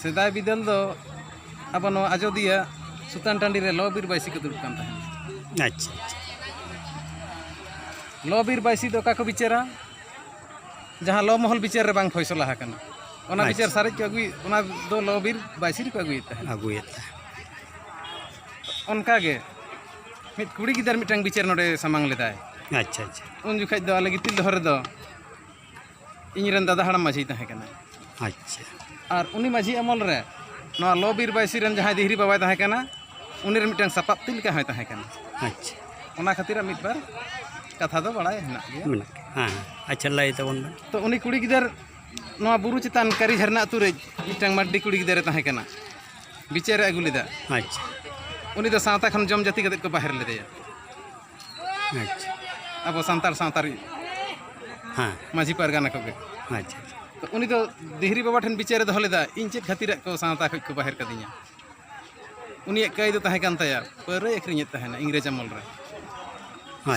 ᱥᱮᱫᱟᱭ ᱵᱤᱫᱟᱹᱞ ᱫᱚ ᱟᱵᱚ ᱱᱚᱣᱟ ᱟᱡᱚᱫᱤᱭᱟᱹ ᱥᱩᱛᱟᱱ ᱴᱟᱺᱰᱤ ᱨᱮ ᱞᱚ ᱵᱤᱨ ᱵᱟᱹᱭᱥᱤ ᱠᱚ ᱫᱩᱲᱩᱵ ᱠᱟᱱ ᱛᱟᱦᱮᱸᱫ ᱟᱪᱪᱷᱟ ᱞᱚ ᱵᱤᱨ ᱵᱟᱹᱭᱥᱤ ᱫᱚ ᱚᱠᱟ ᱠᱚ ᱵᱤᱪᱟᱹᱨᱟ ᱡᱟᱦᱟᱸ ᱞᱚ ᱢᱚᱦᱚᱞ ᱵᱤᱪᱟᱹᱨ ᱨᱮ ᱵᱟᱝ ᱯᱷᱚᱭᱥᱚᱞᱟ ᱟᱠᱟᱱᱟ ᱚᱱᱟ ᱵᱤᱪᱟᱹᱨ ᱥᱟᱨᱮᱡ ᱠᱚ ᱟᱹᱜᱩᱭ ᱚᱱᱟ ᱫᱚ ᱞᱚ ᱵᱤᱨ ᱵᱟᱹᱭᱥᱤ ᱨᱮᱠᱚ ᱟᱹᱜᱩᱭᱮᱫ ᱛᱟᱦᱮᱸᱫ ᱟᱹᱜᱩᱭᱮᱫ ᱛᱟᱦᱮᱸᱫ ᱚᱱᱠᱟᱜᱮ ᱢᱤᱫ ᱠᱩᱲᱤ ᱜᱤᱫᱟᱹᱨ ᱢᱤᱫᱴᱟᱝ ᱵᱤᱪᱟᱹᱨ ᱱᱚᱰᱮ ᱥᱟᱢᱟᱝ ᱞᱮᱫᱟᱭ ᱟᱪᱪᱷᱟ ᱟᱪᱪᱷᱟ ᱩᱱ ᱡᱚᱠᱷᱟᱡ ᱫᱚ ᱟᱞᱮ ᱜᱤᱛᱤᱞ ᱫᱚᱦᱚ ᱨᱮᱫᱚ ᱤᱧ ᱨᱮᱱ ᱫᱟᱫᱟ ᱦᱟᱲᱟᱢ ᱢᱟᱹᱡᱷᱤ ᱛᱟᱦᱮᱸ ᱠᱟᱱᱟ ᱟᱪᱪᱷᱟ ᱟᱨ ᱩᱱᱤ ᱢᱟᱹᱡᱷᱤ ᱟᱢᱚᱞ ᱨᱮ ᱱᱚᱣᱟ ᱞᱚ ᱵᱤᱨ ᱵᱟᱭᱥᱤ ᱨᱮᱱ ᱡᱟᱦᱟᱸᱭ ᱫᱤᱦᱨᱤ ᱵᱟᱵᱟᱭ ᱛᱟᱦᱮᱸ ᱠᱟᱱᱟ ᱩᱱᱤ ᱨᱮᱱ ᱢᱤᱫᱴᱟᱝ ᱥᱟᱯᱟᱵ ᱛᱤ ᱞᱮᱠᱟ ᱦᱚᱸᱭ ᱛᱟᱦᱮᱸ ᱠᱟᱱᱟ ᱟᱪᱪᱷᱟ ᱚᱱᱟ ᱠᱷᱟᱹᱛᱤᱨ ᱢᱤᱫ ᱵᱟᱨ ᱠᱟᱛᱷᱟ ᱫᱚ ᱵᱟᱲᱟᱭ ᱦᱮᱱᱟᱜ ᱜᱮᱭᱟ ᱢᱮᱱᱟᱜ ᱦᱮᱸ ᱟᱪᱪᱷᱟ ᱞᱟᱹᱭ ᱛᱟᱵᱚᱱ ᱢᱮ ᱛᱚ ᱩᱱᱤ ᱠᱩᱲᱤ ᱜᱤᱫᱟᱹᱨ ᱱᱚᱣᱟ ᱵᱩᱨᱩ ᱪᱮᱛᱟᱱ ᱠᱟᱹᱨᱤ ᱡᱷᱟᱨᱱᱟ ᱟᱹᱛᱩ ᱨᱮ ᱢᱤᱫᱴᱟᱝ ᱢᱟᱹᱨᱰᱤ ᱠᱩᱲᱤ ᱜᱤᱫᱟᱹᱨᱮ ᱛᱟᱦᱮᱸ ᱠᱟᱱᱟ ᱵᱤᱪᱟᱹᱨᱮ ᱟᱹᱜᱩ ᱞᱮᱫᱟ ᱟᱪᱪᱷᱟ ᱩᱱᱤ ᱫᱚ ᱥᱟᱶᱛᱟ ᱠᱷᱚᱱ ᱡᱚᱢ ᱡᱟᱹᱛᱤ ᱠᱟᱛᱮᱫ ᱠᱚ ᱵᱟᱦᱮᱨ ᱞᱮᱫᱮᱭᱟ ᱟᱪᱪᱷᱟ ᱟᱵᱚ ᱥᱟᱱᱛᱟᱲ ᱥᱟᱶᱛᱟ ᱨᱮ ᱦᱮᱸ ᱢᱟᱹᱡᱷᱤ ᱯᱟᱨᱜᱟᱱᱟ ᱠᱚᱜᱮ ᱟᱪᱪᱷᱟ ᱟᱪᱪᱷᱟ ᱛᱚ ᱩᱱᱤ ᱫᱚ ᱫᱤᱦᱨᱤ ᱵᱟᱵᱟ ᱴᱷᱮᱱ ᱵᱤᱪᱟᱹᱨᱮ ᱫᱚᱦᱚ ᱞᱮᱫᱟ ᱤᱧ ᱪᱮᱫ ᱠᱷᱟᱹᱛᱤᱨᱟᱜ ᱠᱚ ᱥᱟᱶᱛᱟ ᱠᱷᱚᱡ ᱠᱚ ᱵᱟᱦᱮᱨ ᱠᱟᱹᱫᱤᱧᱟ ᱩᱱᱤᱭᱟᱜ ᱠᱟᱹᱭ ᱫᱚ ᱛᱟᱦᱮᱸ ᱠᱟᱱ ᱛᱟᱭᱟ ᱯᱟᱹᱣᱨᱟᱹᱭ ᱟᱹᱠᱷᱨᱤᱧᱮᱫ ᱛᱟᱦᱮᱱᱟ ᱤᱝᱨᱮᱡᱽ ᱟᱢᱚᱞ ᱨᱮ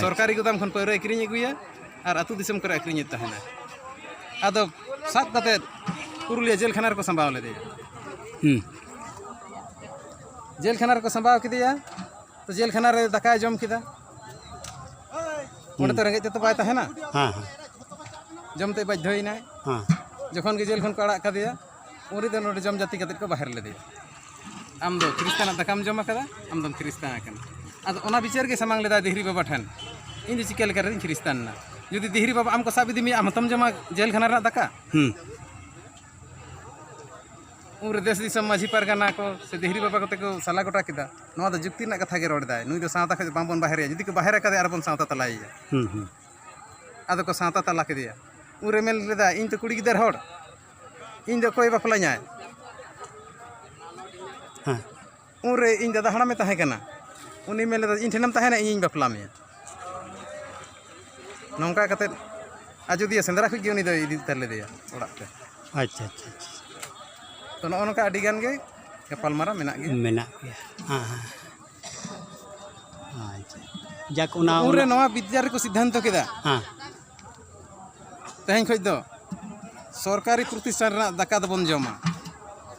ᱟᱪᱪᱷᱟ᱾ ᱥᱚᱨᱠᱟᱨᱤ ᱜᱩᱫᱟᱢ ᱠᱷᱚᱱ ᱯᱟᱹᱣᱨᱟᱹᱭ ᱟᱹᱠᱷᱨᱤᱧ ᱟᱹᱜᱩᱭᱟ ᱟᱨ ᱟᱹᱛᱩ ᱫᱤᱥᱚᱢ ᱠᱚᱨᱮ ᱟᱹᱠᱷᱨᱤᱧᱮᱫ ᱛᱟᱦᱮᱱᱟ ᱟᱫᱚ ᱥᱟᱵ ᱠᱟᱛᱮᱫ ᱯᱩᱨᱩᱞᱤᱭᱟᱹ ᱡᱮᱞ ᱠᱷᱟᱱᱟ ᱨᱮᱠᱚ ᱥᱟᱢᱵᱟᱣ ᱞᱮᱫᱮᱭᱟ ᱦᱩᱸ ᱡᱮᱞ ᱠᱷᱟᱱᱟ ᱨᱮᱠᱚ ᱥᱟᱢᱵᱟᱣ ᱠᱮᱫᱮᱭᱟ ᱛᱚ ᱡᱮᱞ ᱠᱷᱟᱱᱟ ᱨᱮ ᱫᱟᱠᱟᱭ ᱡᱚᱢ ᱠᱮᱫᱟ ᱚᱸᱰᱮ ᱛᱚ ᱨᱮᱸᱜᱮᱡ ᱛᱮᱛᱚ ᱵᱟᱭ ᱛᱟᱦᱮᱱᱟ ᱦᱮᱸ ᱦᱮᱸ ᱡᱚᱢ ᱛᱮ ᱵᱟᱫᱽᱫᱷᱚᱭᱮᱱᱟᱭ ᱦᱮᱸ ᱡᱚᱠᱷᱚᱱ ᱜᱮ ᱡᱮᱞ ᱠᱷᱚᱱ ᱠᱚ ᱟᱲᱟᱜ ᱠᱟᱫᱮᱭᱟ ᱩᱱ ᱨᱮᱫᱚ ᱱᱚᱰᱮ ᱡᱚᱢ ᱡᱟᱹᱛᱤ ᱠᱟᱛᱮᱫ ᱠᱚ ᱵᱟᱦᱮᱨ ᱞᱮᱫᱮᱭᱟ ᱟᱢ ᱫᱚ ᱠᱷᱨᱤᱥᱛᱟᱱᱟᱜ ᱫᱟᱠᱟᱢ ᱡᱚᱢ ᱟᱠᱟᱫᱟ ᱟᱢ ᱫᱚᱢ ᱠᱷᱨᱤᱥᱛᱟᱱ ᱟᱠᱟᱱᱟ ᱟᱫᱚ ᱚᱱᱟ ᱵᱤᱪᱟᱹᱨ ᱜᱮ ᱥᱟᱢᱟᱝ ᱞᱮᱫᱟᱭ ᱫᱤᱦᱨᱤ ᱵᱟᱵᱟ ᱴᱷᱮᱱ ᱤᱧ ᱫᱚ ᱪᱤᱠᱟᱹ ᱞᱮᱠᱟ ᱨᱮᱧ ᱠᱷᱨᱤᱥᱛᱟᱱ ᱮᱱᱟ ᱡᱩᱫᱤ ᱫᱤᱦᱨᱤ ᱵᱟᱵᱟ ᱟᱢ ᱠᱚ ᱥᱟᱵ ᱤᱫᱤ ᱢᱮᱭᱟ ᱟᱢ ᱦᱚᱸᱛᱚᱢ ᱡᱚᱢᱟ ᱡᱮᱞ ᱠᱷᱟᱱᱟ ᱨᱮᱱᱟᱜ ᱫᱟᱠᱟ ᱦᱮᱸ ᱩᱱᱨᱮ ᱫᱮᱥ ᱫᱤᱥᱚᱢ ᱢᱟᱹᱡᱷᱤ ᱯᱟᱨᱜᱟᱱᱟ ᱠᱚ ᱥᱮ ᱫᱷᱤᱨᱤ ᱵᱟᱵᱟ ᱠᱚᱛᱮ ᱠᱚ ᱥᱟᱞᱟ ᱜᱚᱴᱟ ᱠᱮᱫᱟ ᱱᱚᱣᱟ ᱫᱚ ᱡᱩᱠᱛᱤ ᱨᱮᱱᱟᱜ ᱠᱟᱛᱷᱟ ᱜᱮ ᱨᱚᱲ ᱮᱫᱟᱭ ᱱᱩᱭ ᱫᱚ ᱥᱟᱶᱛᱟ ᱠᱷᱚᱱ ᱵᱟᱝᱵᱚᱱ ᱵᱟᱦᱮᱨᱮᱭᱟ ᱡᱩᱫᱤ ᱠᱚ ᱵᱟᱦᱮᱨ ᱟᱠᱟᱫᱮᱭᱟ ᱟᱨᱵᱚᱱ ᱥᱟᱶᱛᱟ ᱛᱟᱞᱟᱭᱮᱭᱟ ᱟᱫᱚ ᱠᱚ ᱥᱟᱶᱛᱟ ᱛᱟᱞᱟ ᱠᱮᱫᱮᱭᱟ ᱩᱱᱨᱮ ᱢᱮᱱ ᱞᱮᱫᱟ ᱤᱧ ᱫᱚ ᱠᱩᱲᱤ ᱜᱤᱫᱟᱹᱨ ᱦᱚᱲ ᱤᱧ ᱫᱚ ᱚᱠᱚᱭ ᱵᱟᱯᱞᱟᱧᱟᱭ ᱩᱱᱨᱮ ᱤᱧ ᱫᱟᱫᱟ ᱦᱟᱲᱟᱢᱮ ᱛᱟᱦᱮᱸ ᱠᱟᱱᱟ ᱩᱱᱤ ᱢᱮᱱ ᱞᱮᱫᱟ ᱤᱧ ᱴᱷᱮᱱᱮᱢ ᱛᱟᱦᱮᱱᱟ ᱤᱧᱤᱧ ᱵᱟᱯᱞᱟ ᱢᱮᱭᱟ ᱱᱚᱝᱠᱟ ᱠᱟᱛᱮᱫ ᱟᱡᱳᱫᱤᱭᱟᱹ ᱥᱮᱸᱫᱽᱨᱟ ᱠᱷᱚᱱ ᱜᱮ ᱩᱱᱤ ᱫᱚᱭ ᱤᱫᱤ ᱩᱛᱟᱹᱨ ᱞᱮᱫᱮᱭᱟ ᱚᱲᱟᱜ ᱛᱮ ᱟᱪᱪᱷᱟ ᱟᱪᱪᱷᱟ ᱛᱚ ᱱᱚᱜᱼᱚ ᱱᱚᱝᱠᱟ ᱟᱹᱰᱤ ᱜᱟᱱ ᱜᱮ ᱜᱟᱯᱟᱞᱢᱟᱨᱟᱣ ᱢᱮᱱᱟᱜ ᱜᱮᱭᱟ ᱢᱮᱱᱟᱜ ᱜᱮᱭᱟ ᱦᱮᱸ ᱦᱮᱸ ᱟᱪᱪᱷᱟ ᱡᱟᱠ ᱚᱱᱟ ᱩᱱᱨᱮ ᱱᱚᱣᱟ ᱵᱤᱫᱽᱫᱟ ᱨᱮᱠᱚ ᱥᱤᱫᱽᱫᱷᱟᱱᱛᱚ ᱠᱮᱫᱟ ᱦᱮᱸ ᱛᱮᱦᱮᱧ ᱠᱷᱚᱱ ᱫᱚ ᱥᱚᱨᱠᱟᱨᱤ ᱯᱨᱚᱛᱤᱥᱴᱷᱟᱱ ᱨᱮᱱᱟᱜ ᱫᱟᱠᱟ ᱫᱚᱵᱚᱱ ᱡᱚᱢᱟ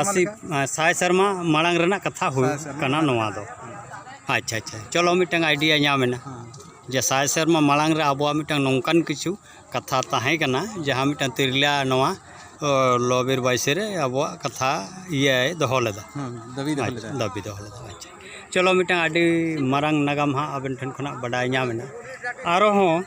ᱟᱥᱤ ᱥᱟᱭ ᱥᱮᱨᱢᱟ ᱢᱟᱲᱟᱝ ᱨᱮᱱᱟᱜ ᱠᱟᱛᱷᱟ ᱦᱩᱭᱩᱜ ᱠᱟᱱᱟ ᱱᱚᱣᱟ ᱫᱚ ᱟᱪᱪᱷᱟ ᱟᱪᱪᱷᱟ ᱪᱚᱞᱚ ᱢᱤᱫᱴᱟᱝ ᱟᱭᱰᱤᱭᱟ ᱧᱟᱢ ᱮᱱᱟ ᱡᱮ ᱥᱟᱭ ᱥᱮᱨᱢᱟ ᱢᱟᱲᱟᱝ ᱨᱮ ᱟᱵᱚᱣᱟᱜ ᱢᱤᱫᱴᱟᱝ ᱱᱚᱝᱠᱟᱱ ᱠᱤᱪᱷᱩ ᱠᱟᱛᱷᱟ ᱛᱟᱦᱮᱸ ᱠᱟᱱᱟ ᱡᱟᱦᱟᱸ ᱢᱤᱫᱴᱟᱝ ᱛᱤᱨᱞᱟᱹ ᱱᱚᱣᱟ ᱞᱚ ᱵᱤᱨ ᱵᱟᱭᱤᱥᱮ ᱨᱮ ᱟᱵᱚᱣᱟᱜ ᱠᱟᱛᱷᱟ ᱤᱭᱟᱹᱭ ᱫᱚᱦᱚ ᱞᱮᱫᱟ ᱫᱟᱹᱵᱤ ᱫᱚᱦᱚ ᱞᱮᱫᱟ ᱫᱟᱹᱵᱤ ᱫᱚᱦᱚ ᱞᱮᱫᱟ ᱟᱪᱪᱷᱟ ᱪᱚᱞᱚ ᱢᱤᱫᱴᱟᱝ ᱟᱹᱰᱤ ᱢᱟᱨᱟᱝ ᱱᱟᱜᱟᱢ ᱦᱟᱸᱜ ᱟᱵᱮᱱ ᱴᱷᱮᱱ ᱠᱷᱚᱱᱟᱜ ᱵᱟᱰᱟᱭ ᱧᱟᱢ ᱮᱱᱟ ᱟᱨᱦᱚᱸ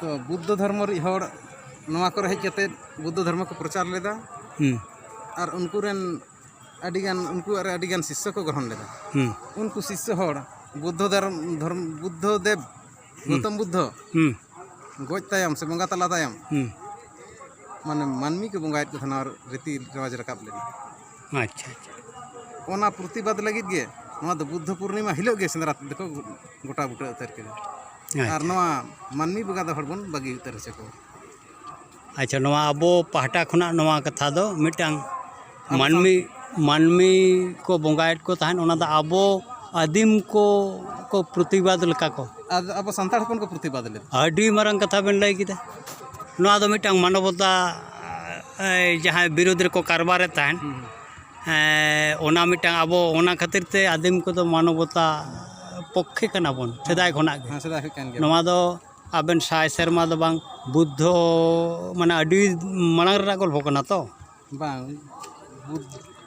ᱛᱚ ᱵᱩᱫᱽᱫᱷᱚ ᱫᱷᱚᱨᱢᱚ ᱨᱤᱡ ᱦᱚᱲ ᱱᱚᱣᱟ ᱠᱚᱨᱮ ᱦᱮᱡ ᱠᱟᱛᱮᱫ ᱵᱩᱫᱽᱫᱷᱚ ᱫᱷᱚᱨᱢᱚ ᱠᱚ ᱯᱨᱚᱪᱟᱨ ᱞᱮᱫᱟ ᱦᱩᱸ ᱟᱨ ᱩᱱᱠᱩ ᱨᱮᱱ ᱟᱹᱰᱤ ᱜᱟᱱ ᱩᱱᱠᱩᱣᱟᱜ ᱨᱮ ᱟᱹᱰᱤ ᱜᱟᱱ ᱥᱤᱥᱥᱚ ᱠᱚ ᱜᱨᱚᱦᱚᱱ ᱞᱮᱫᱟ ᱦᱩᱸ ᱩᱱᱠᱩ ᱥᱤᱥᱥᱚ ᱦᱚᱲ ᱵᱩᱫᱽᱫᱷᱚ ᱫᱷᱚᱨᱢ ᱫᱷᱚᱨᱢ ᱵᱩᱫᱽᱫᱷᱚ ᱫᱮᱵᱽ ᱜᱳᱛᱚᱢ ᱵᱩᱫᱽᱫᱷᱚ ᱦᱩᱸ ᱜᱚᱡ ᱛᱟᱭᱚᱢ ᱥᱮ ᱵᱚᱸᱜᱟ ᱛᱟᱞᱟ ᱛᱟᱭᱚᱢ ᱦᱩᱸ ᱢᱟᱱᱮ ᱢᱟᱹᱱᱢᱤ ᱠᱚ ᱵᱚᱸᱜᱟᱭᱮᱫ ᱠᱚ ᱛᱟᱦᱮᱱᱟ ᱟᱨ ᱨᱤᱛᱤ ᱨᱮᱣᱟᱡᱽ ᱨᱟᱠᱟᱵ ᱞᱮᱱᱟ ᱟᱪᱪᱷᱟ ᱟᱪᱪᱷᱟ ᱚᱱᱟ ᱯᱨᱚᱛᱤᱵᱟᱫᱽ ᱞᱟᱹᱜᱤᱫ ᱜᱮ ᱱᱚᱣᱟ ᱫᱚ ᱵᱩᱫᱽᱫᱷᱚ ᱯᱩᱨᱱᱤᱢᱟ ᱦᱤᱞᱳᱜ ᱜᱮ ᱥᱮᱸᱫᱽᱨᱟ ᱫᱚᱠᱚ ᱜᱚᱴᱟ ᱵᱩᱴᱟᱹ ᱩᱛᱟᱹᱨ ᱠᱮᱫᱟ ᱟᱨ ᱱᱚᱣᱟ ᱢᱟᱹᱱᱢᱤ ᱵᱚᱸᱜᱟ ᱫᱚ ᱦᱚᱲ ᱵᱚᱱ ᱵᱟᱹᱜᱤ ᱩᱛᱟᱹᱨ ᱦᱚᱪᱚ ᱠᱚᱣᱟ ᱟᱪᱪᱷᱟ ᱱᱚᱣᱟ ᱟᱵᱚ ᱯᱟᱦᱴᱟ ᱠᱷᱚᱱᱟᱜ ᱱᱚᱣᱟ ᱠᱟᱛᱷᱟ ᱫᱚ ᱢᱤᱫᱴᱟᱝ ᱢᱟᱹᱱᱢᱤ ᱢᱟᱹᱱᱢᱤ ᱠᱚ ᱵᱚᱸᱜᱟᱭᱮᱫ ᱠᱚ ᱛᱟᱦᱮᱸᱫ ᱚᱱᱟ ᱫᱚ ᱟᱵᱚ ᱟᱹᱫᱤᱢ ᱠᱚ ᱠᱚ ᱯᱨᱚᱛᱤᱵᱟᱫᱽ ᱞᱮᱠᱟ ᱠᱚ ᱟᱨ ᱟᱵᱚ ᱥᱟᱱᱛᱟᱲ ᱦᱚᱯᱚᱱ ᱠᱚ ᱯᱨᱚᱛᱤᱵᱟᱫᱽ ᱞᱮᱫᱟ ᱟᱹᱰᱤ ᱢᱟᱨᱟᱝ ᱠᱟᱛᱷᱟ ᱵᱮᱱ ᱞᱟᱹᱭ ᱠᱮᱫᱟ ᱱᱚᱣᱟ ᱫᱚ ᱢᱤᱫᱴᱟᱝ ᱢᱟᱱᱚᱵᱚᱛᱟ ᱡᱟᱦᱟᱸᱭ ᱵᱤᱨᱳᱫᱷ ᱨᱮᱠᱚ ᱠᱟᱨᱵᱟᱨᱮᱫ ᱛᱟᱦᱮᱱ ᱚᱱᱟ ᱢᱤᱫᱴᱟᱝ ᱟᱵᱚ ᱚᱱᱟ ᱠᱷᱟᱹᱛᱤᱨ ᱛᱮ ᱟᱹᱫᱤᱢ ᱠᱚᱫᱚ ᱢᱟᱱᱚᱵᱚᱛᱟ ᱯᱚᱠᱠᱷᱮ ᱠᱟᱱᱟ ᱵᱚᱱ ᱥᱮᱫᱟᱭ ᱠᱷᱚᱱᱟᱜ ᱜᱮ ᱱᱚᱣᱟ ᱫᱚ ᱟᱵᱮᱱ ᱥᱟᱭ ᱥᱮᱨᱢᱟ ᱫᱚ ᱵᱟᱝ ᱵᱩᱫᱽᱫᱷᱚ ᱢᱟᱱᱮ ᱟᱹᱰᱤ ᱢᱟᱲᱟᱝ ᱨᱮᱱᱟᱜ ᱜᱚᱞᱯᱷᱚ ᱠᱟᱱᱟ ᱛᱚ ᱵᱟᱝ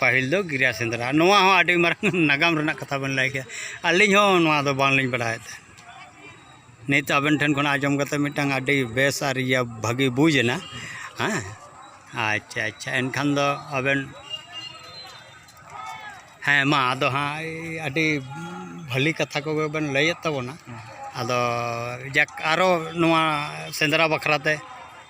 ᱯᱟᱹᱦᱤᱞ ᱫᱚ ᱜᱤᱨᱟᱹ ᱥᱮᱸᱫᱽᱨᱟ ᱱᱚᱣᱟ ᱦᱚᱸ ᱟᱹᱰᱤ ᱢᱟᱨᱟᱝ ᱱᱟᱜᱟᱢ ᱨᱮᱱᱟᱜ ᱠᱟᱛᱷᱟ ᱵᱮᱱ ᱞᱟᱹᱭ ᱠᱮᱫᱟ ᱟᱹᱞᱤᱧ ᱦᱚᱸ ᱱᱚᱣᱟ ᱫᱚ ᱵᱟᱝᱞᱤᱧ ᱵᱟᱲᱟᱭ ᱛᱟᱦᱮᱸᱫ ᱱᱤᱛ ᱟᱵᱮᱱ ᱴᱷᱮᱱ ᱠᱷᱚᱱ ᱟᱸᱡᱚᱢ ᱠᱟᱛᱮᱫ ᱢᱤᱫᱴᱟᱱ ᱟᱹᱰᱤ ᱵᱮᱥ ᱟᱨ ᱤᱭᱟᱹ ᱵᱷᱟᱹᱜᱤ ᱵᱩᱡᱽ ᱮᱱᱟ ᱦᱮᱸ ᱟᱪᱪᱷᱟ ᱟᱪᱪᱷᱟ ᱮᱱᱠᱷᱟᱱ ᱫᱚ ᱟᱵᱮᱱ ᱦᱮᱸ ᱢᱟ ᱟᱫᱚ ᱦᱟᱸᱜ ᱟᱹᱰᱤ ᱵᱷᱟᱹᱞᱤ ᱠᱟᱛᱷᱟ ᱠᱚᱜᱮ ᱵᱮᱱ ᱞᱟᱹᱭᱮᱫ ᱛᱟᱵᱚᱱᱟ ᱟᱫᱚ ᱡᱟᱠ ᱟᱨᱚ ᱱᱚᱣᱟ ᱥᱮᱸᱫᱽᱨᱟ ᱵᱟᱠᱷᱨᱟ ᱛᱮ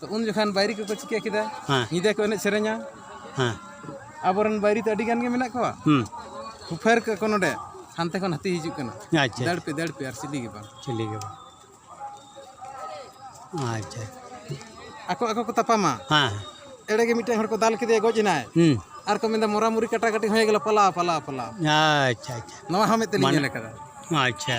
ᱛᱚ ᱩᱱ ᱡᱚᱠᱷᱟᱱ ᱵᱟᱭᱨᱤ ᱠᱚᱠᱚ ᱪᱤᱠᱟᱹ ᱠᱮᱫᱟ ᱦᱮᱸ ᱧᱤᱫᱟᱹ ᱠᱚ ᱮᱱᱮᱡ ᱥᱮᱨᱮᱧᱟ ᱦᱮᱸ ᱟᱵᱚᱨᱮᱱ ᱵᱟᱭᱨᱤ ᱫᱚ ᱟᱹᱰᱤ ᱜᱟᱱ ᱜᱮ ᱢᱮᱱᱟᱜ ᱠᱚᱣᱟ ᱦᱩᱸ ᱦᱩᱯᱷᱟᱹᱨ ᱠᱟᱜ ᱠᱚ ᱱᱚᱰᱮ ᱦᱟᱱᱛᱮ ᱠᱷᱚᱱ ᱦᱟᱹᱛᱤ ᱦᱤᱡᱩᱜ ᱠᱟᱱᱟ ᱟᱪᱪᱷᱟ ᱫᱟᱹᱲ ᱯᱮ ᱫᱟᱹᱲ ᱯᱮ ᱟᱨ ᱪᱤᱞᱤ ᱜᱮ ᱵᱟᱝ ᱪᱤᱞᱤ ᱜᱮ ᱵᱟᱝ ᱟᱪᱪᱷᱟ ᱟᱠᱚ ᱟᱠᱚ ᱠᱚ ᱛᱟᱯᱟᱢᱟ ᱦᱮᱸ ᱮᱲᱮ ᱜᱮ ᱢᱤᱫᱴᱟᱝ ᱦᱚᱲ ᱠᱚ ᱫᱟᱞ ᱠᱮᱫᱮᱭᱟ ᱜᱚᱡ ᱮᱱᱟᱭ ᱦᱩᱸ ᱟᱨ ᱠᱚ ᱢᱮᱱᱫᱟ ᱢᱚᱨᱟ ᱢᱩᱨᱤ ᱠᱟᱴᱟ ᱠᱟᱴᱤ ᱦᱚᱸ ᱜᱮᱞᱟ ᱯᱟᱞᱟᱣ ᱯᱟᱞᱟᱣ ᱯᱟᱞᱟᱣ ᱟᱪᱪᱷᱟ ᱟᱪᱪᱷᱟ ᱱᱚᱣᱟ ᱦᱚᱸ ᱢᱤᱫ ᱛᱮᱞᱤᱧ ᱢᱟᱱᱮ- ᱧᱮᱞ ᱟᱠᱟᱫᱟ ᱟᱪᱪᱷᱟ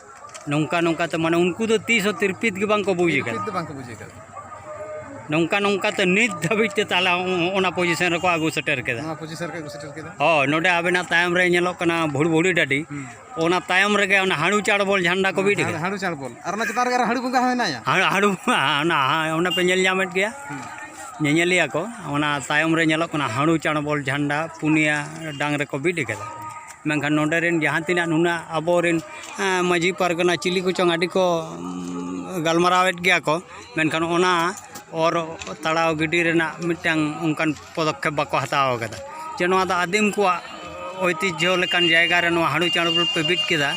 ᱱᱚᱝᱠᱟ ᱱᱚᱝᱠᱟ ᱛᱮ ᱢᱟᱱᱮ ᱩᱱᱠᱩ ᱫᱚ ᱛᱤᱥ ᱦᱚᱸ ᱛᱤᱨᱯᱤᱛ ᱜᱮ ᱵᱟᱝᱠᱚ ᱵᱩᱡᱽ ᱟᱠᱟᱫᱟ ᱛᱤᱨᱯᱤᱛ ᱫᱚ ᱵᱟᱝᱠᱚ ᱵᱩᱡᱽ ᱟᱠᱟᱫᱟ ᱱᱚᱝᱠᱟ ᱱᱚᱝᱠᱟ ᱛᱮ ᱱᱤᱛ ᱫᱷᱟᱹᱵᱤᱡ ᱛᱮ ᱛᱟᱦᱚᱞᱮ ᱚᱱᱟ ᱯᱚᱡᱤᱥᱚᱱ ᱨᱮᱠᱚ ᱟᱹᱜᱩ ᱥᱮᱴᱮᱨ ᱠᱮᱫᱟ ᱱᱚᱣᱟ ᱯᱚᱡᱤᱥᱚᱱ ᱨᱮᱠᱚ ᱟᱹᱜᱩ ᱥᱮᱴᱮᱨ ᱠᱮᱫᱟ ᱦᱳᱭ ᱱᱚᱰᱮ ᱟᱵᱮᱱᱟᱜ ᱛᱟᱭᱚᱢ ᱨᱮ ᱧᱮᱞᱚᱜ ᱠᱟᱱᱟ ᱵᱷᱩᱲᱵᱷᱩᱲᱤ ᱰᱟᱹᱰᱤ ᱚᱱᱟ ᱛᱟᱭᱚᱢ ᱨᱮᱜᱮ ᱚᱱᱟ ᱦᱟᱹᱲᱩ ᱪᱟᱲᱵᱚᱞ ᱡᱷᱟᱱᱰᱟ ᱠᱚ ᱵᱤᱫ ᱟᱠᱟᱫᱟ ᱦᱟᱹᱲᱩ ᱪᱟᱲᱵᱚᱞ ᱟᱨ ᱚᱱᱟ ᱪᱮᱛᱟᱱ ᱨᱮᱜᱮ ᱦᱟᱹᱲᱩ ᱵᱚᱸᱜᱟ ᱦᱚᱸ ᱦᱮᱱᱟᱭᱟ ᱦᱟᱹᱲᱩ ᱚᱱᱟ ᱚᱱᱟ ᱯᱮ ᱧᱮᱞ ᱧᱟᱢᱮᱫ ᱜᱮᱭᱟ ᱧᱮᱧᱮᱞᱤᱭᱟᱹ ᱠᱚ ᱚᱱᱟ ᱛᱟᱭᱚᱢ ᱨᱮ ᱧᱮᱞᱚᱜ ᱠᱟᱱᱟ ᱦᱟᱹᱲᱩ ᱪᱟᱲᱵᱚᱞ ᱡᱷᱟᱱᱰᱟ ᱯᱩᱱᱭᱟ ᱰᱟᱝ ᱨᱮᱠᱚ ᱵᱤᱫ ᱟᱠᱟᱫᱟ ᱢᱮᱱᱠᱷᱟᱱ ᱱᱚᱰᱮ ᱨᱮᱱ ᱡᱟᱦᱟᱸ ᱛᱤᱱᱟᱹᱜ ᱱᱩᱱᱟᱹᱜ ᱟᱵᱚ ᱨᱮᱱ ᱢᱟᱹᱡᱷᱤ ᱯᱟᱨᱜᱟᱱᱟ ᱪᱤᱞᱤ ᱠᱚᱪᱚᱝ ᱟᱹᱰᱤ ᱠᱚ ᱜᱟᱞᱢᱟᱨᱟᱣᱮᱫ ᱜᱮᱭᱟ ᱠᱚ ᱢᱮᱱᱠᱷᱟᱱ ᱚᱱᱟ ᱚᱨ ᱛᱟᱲᱟᱣ ᱜᱤᱰᱤ ᱨᱮᱱᱟᱜ ᱢᱤᱫᱴᱟᱝ ᱚᱱᱠᱟᱱ ᱯᱚᱫᱚᱠᱷᱮᱯ ᱵᱟᱠᱚ ᱦᱟᱛᱟᱣ ᱠᱟᱫᱟ ᱡᱮ ᱱᱚᱣᱟ ᱫᱚ ᱟᱹᱫᱤᱢ ᱠᱚᱣᱟᱜ ᱳᱭᱛᱤᱡᱡᱷᱚ ᱞᱮᱠᱟᱱ ᱡᱟᱭᱜᱟ ᱨᱮ ᱱᱚᱣᱟ ᱦᱟᱺᱰᱤ ᱪᱟᱬ ᱯᱮ ᱵᱤᱫ ᱠᱮᱫᱟ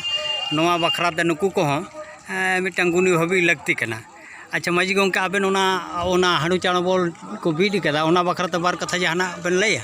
ᱱᱚᱣᱟ ᱵᱟᱠᱷᱨᱟ ᱛᱮ ᱱᱩᱠᱩ ᱠᱚᱦᱚᱸ ᱢᱤᱫᱴᱟᱝ ᱜᱩᱱᱤ ᱵᱷᱟᱹᱵᱤ ᱞᱟᱹᱠᱛᱤ ᱠᱟᱱᱟ ᱟᱪᱪᱷᱟ ᱢᱟᱹᱡᱷᱤ ᱜᱚᱢᱠᱮ ᱟᱵᱮᱱ ᱚᱱᱟ ᱚᱱᱟ ᱦᱟᱺᱰᱤ ᱪᱟᱬ ᱵᱚᱞ ᱠᱚ ᱵᱤᱫ ᱠᱟᱫᱟ ᱚᱱᱟ ᱵᱟᱠᱷᱨᱟ ᱛᱮ ᱵᱟᱨ ᱠᱟᱛᱷᱟ ᱡᱟᱦᱟᱱᱟᱜ ᱵᱮᱱ ᱞᱟᱹᱭᱟ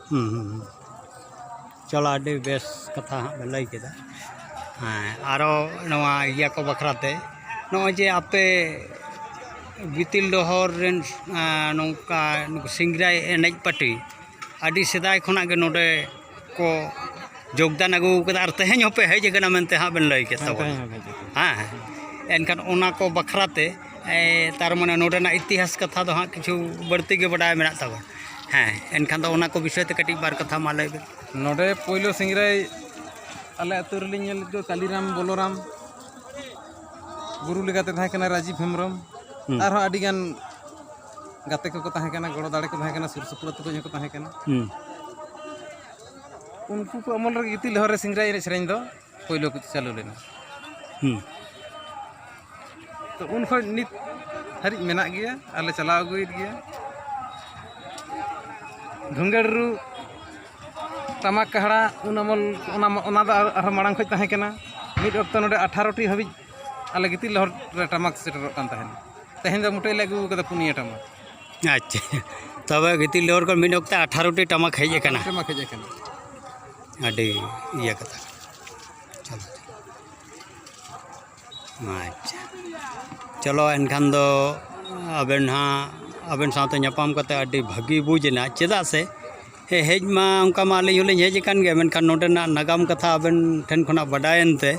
ᱦᱩᱸ ᱦᱩᱸ ᱦᱩᱸ ᱪᱚᱞᱚ ᱟᱹᱰᱤ ᱵᱮᱥ ᱠᱟᱛᱷᱟ ᱦᱟᱸᱜ ᱵᱮᱱ ᱞᱟᱹᱭ ᱠᱮᱫᱟ ᱦᱮᱸ ᱟᱨᱚ ᱱᱚᱣᱟ ᱤᱭᱟᱹ ᱠᱚ ᱵᱟᱠᱷᱨᱟ ᱛᱮ ᱱᱚᱜᱼᱚᱭ ᱡᱮ ᱟᱯᱮ ᱜᱤᱛᱤᱞ ᱰᱚᱦᱚᱨ ᱨᱮᱱ ᱱᱚᱝᱠᱟ ᱱᱩᱠᱩ ᱥᱤᱝᱨᱟᱭ ᱮᱱᱮᱡ ᱯᱟᱹᱴᱤ ᱟᱹᱰᱤ ᱥᱮᱫᱟᱭ ᱠᱷᱚᱱᱟᱜ ᱜᱮ ᱱᱚᱰᱮ ᱠᱚ ᱡᱳᱜᱽᱫᱟᱱ ᱟᱹᱜᱩ ᱠᱟᱫᱟ ᱟᱨ ᱛᱮᱦᱮᱧ ᱦᱚᱸᱯᱮ ᱦᱮᱡ ᱠᱟᱱᱟ ᱢᱮᱱᱛᱮ ᱦᱟᱸᱜ ᱵᱮᱱ ᱞᱟᱹᱭ ᱠᱮᱫ ᱛᱟᱵᱚᱱᱟ ᱦᱮᱸ ᱮᱱᱠᱷᱟᱱ ᱚᱱᱟ ᱠᱚ ᱵᱟᱠᱷᱨᱟ ᱛᱮ ᱛᱟᱨ ᱢᱟᱱᱮ ᱱᱚᱰᱮᱱᱟᱜ ᱤᱛᱤᱦᱟᱥ ᱠᱟᱛᱷᱟ ᱫᱚ ᱦᱟᱸᱜ ᱠᱤᱪᱷᱩ ᱵᱟᱹᱲᱛᱤ ᱜᱮ ᱵᱟᱰᱟᱭ ᱢᱮᱱᱟᱜ ᱛᱟᱵᱚᱱᱟ ᱦᱮᱸ ᱮᱱᱠᱷᱟᱱ ᱫᱚ ᱚᱱᱟ ᱠᱚ ᱵᱤᱥᱚᱭ ᱛᱮ ᱠᱟᱹᱴᱤᱡ ᱵᱟᱨ ᱠᱟᱛᱷᱟ ᱢᱟ ᱞᱟᱹᱭ ᱵᱤᱱ ᱱᱚᱰᱮ ᱯᱳᱭᱞᱳ ᱥᱤᱝᱨᱟᱹᱭ ᱟᱞᱮ ᱟᱹᱛᱩ ᱨᱮᱞᱤᱧ ᱧᱮᱞ ᱞᱮᱫ ᱠᱚᱣᱟ ᱠᱟᱞᱤᱨᱟᱢ ᱵᱚᱞᱚᱨᱟᱢ ᱜᱩᱨᱩ ᱞᱮᱠᱟᱛᱮ ᱛᱟᱦᱮᱸ ᱠᱟᱱᱟ ᱨᱟᱡᱤᱵᱽ ᱦᱮᱢᱵᱨᱚᱢ ᱟᱨᱦᱚᱸ ᱟᱹᱰᱤ ᱜᱟᱱ ᱜᱟᱛᱮ ᱠᱚᱠᱚ ᱛᱟᱦᱮᱸ ᱠᱟᱱᱟ ᱜᱚᱲᱚ ᱫᱟᱲᱮ ᱠᱚ ᱛᱟᱦᱮᱸ ᱠᱟᱱᱟ ᱥᱩᱨ ᱥᱩᱯᱩᱨ ᱟᱹᱛᱩ ᱠᱚᱧ ᱦᱚᱸᱠᱚ ᱛᱟᱦᱮᱸ ᱠᱟᱱᱟ ᱩᱱᱠᱩ ᱠᱚ ᱟᱢᱚᱞ ᱨᱮᱜᱮ ᱜᱤᱛᱤᱞ ᱦᱚᱨ ᱨᱮ ᱥᱤᱝᱨᱟᱹᱭ ᱮᱱᱮᱡ ᱥᱮᱨᱮᱧ ᱫᱚ ᱯᱳᱭᱞᱳ ᱠᱚ ᱪᱟᱹᱞᱩ ᱞᱮᱱᱟ ᱦᱩᱸ ᱛᱚ ᱩᱱ ᱠᱷᱚᱱ ᱱᱤᱛ ᱦᱟᱹᱨᱤᱡ ᱢᱮᱱᱟᱜ ᱜᱮᱭᱟ ᱟᱞᱮ ᱪᱟᱞᱟᱣ ᱟᱹᱜᱩᱭᱮᱫ ᱜᱮᱭᱟ ᱫᱷᱩᱝᱜᱟᱹᱲ ᱨᱩ ᱴᱟᱢᱟᱠ ᱠᱟᱦᱲᱟ ᱩᱱ ᱟᱢᱚᱞ ᱚᱱᱟ ᱚᱱᱟ ᱫᱚ ᱟᱨᱦᱚᱸ ᱢᱟᱲᱟᱝ ᱠᱷᱚᱱ ᱛᱟᱦᱮᱸ ᱠᱟᱱᱟ ᱢᱤᱫ ᱚᱠᱛᱚ ᱱᱚᱰᱮ ᱟᱴᱷᱟᱨᱚᱴᱤ ᱦᱟᱹᱵᱤᱡ ᱟᱞᱮ ᱜᱤᱛᱤᱞ ᱞᱚᱦᱚᱫ ᱨᱮ ᱴᱟᱢᱟᱠ ᱥᱮᱴᱮᱨᱚᱜ ᱠᱟᱱ ᱛᱟᱦᱮᱱ ᱛᱮᱦᱮᱧ ᱫᱚ ᱢᱩᱴᱟᱹᱭ ᱞᱮ ᱟᱹᱜᱩ ᱠᱟᱫᱟ ᱯᱩᱱᱭᱟᱹ ᱴᱟᱢᱟᱠ ᱟᱪᱪᱷᱟ ᱛᱚᱵᱮ ᱜᱤᱛᱤᱞ ᱰᱚᱦᱚᱨ ᱠᱷᱚᱱ ᱢᱤᱫ ᱚᱠᱛᱮ ᱟᱴᱷᱟᱨᱚᱴᱤ ᱴᱟᱢᱟᱠ ᱦᱮᱡ ᱟᱠᱟᱱᱟ ᱴᱟᱢᱟᱠ ᱦᱮᱡ ᱟᱠᱟᱱᱟ ᱟᱹᱰᱤ ᱤᱭᱟᱹ ᱠᱟᱛᱷᱟ ᱠᱟᱱᱟ ᱟᱪᱪᱷᱟ ᱪᱚᱞᱚ ᱮᱱᱠᱷᱟᱱ ᱫᱚ ᱟᱵᱮᱱ ᱦᱟᱸᱜ ᱟᱵᱮᱱ ᱥᱟᱶᱛᱮ ᱧᱟᱯᱟᱢ ᱠᱟᱛᱮᱫ ᱟᱹᱰᱤ ᱵᱷᱟᱹᱜᱤ ᱵᱩᱡᱽ ᱮᱱᱟ ᱪᱮᱫᱟᱜ ᱥᱮ ᱦᱮᱡ ᱢᱟ ᱚᱱᱠᱟ ᱢᱟ ᱟᱹᱞᱤᱧ ᱦᱚᱸᱞᱤᱧ ᱦᱮᱡ ᱟᱠᱟᱱ ᱜᱮᱭᱟ ᱢᱮᱱᱠᱷᱟᱱ ᱱᱚᱰᱮᱱᱟᱜ ᱱᱟᱜᱟᱢ ᱠᱟᱛᱷᱟ ᱟᱵᱮᱱ ᱴᱷᱮᱱ ᱠᱷᱚᱱᱟᱜ ᱵᱟᱰᱟᱭᱮᱱ ᱛᱮ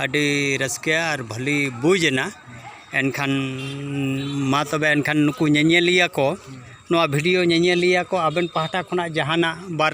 ᱟᱹᱰᱤ ᱨᱟᱹᱥᱠᱟᱹ ᱟᱨ ᱵᱷᱟᱹᱞᱤ ᱵᱩᱡᱽ ᱮᱱᱟ ᱮᱱᱠᱷᱟᱱ ᱢᱟ ᱛᱚᱵᱮ ᱮᱱᱠᱷᱟᱱ ᱱᱩᱠᱩ ᱧᱮᱧᱮᱞᱤᱭᱟᱹ ᱠᱚ ᱱᱚᱣᱟ ᱵᱷᱤᱰᱤᱭᱳ ᱧᱮᱧᱮᱞᱤᱭᱟᱹ ᱠᱚ ᱟᱵᱮᱱ ᱯᱟᱦᱴᱟ ᱠᱷᱚᱱᱟᱜ ᱡᱟᱦᱟᱱᱟᱜ ᱵᱟᱨ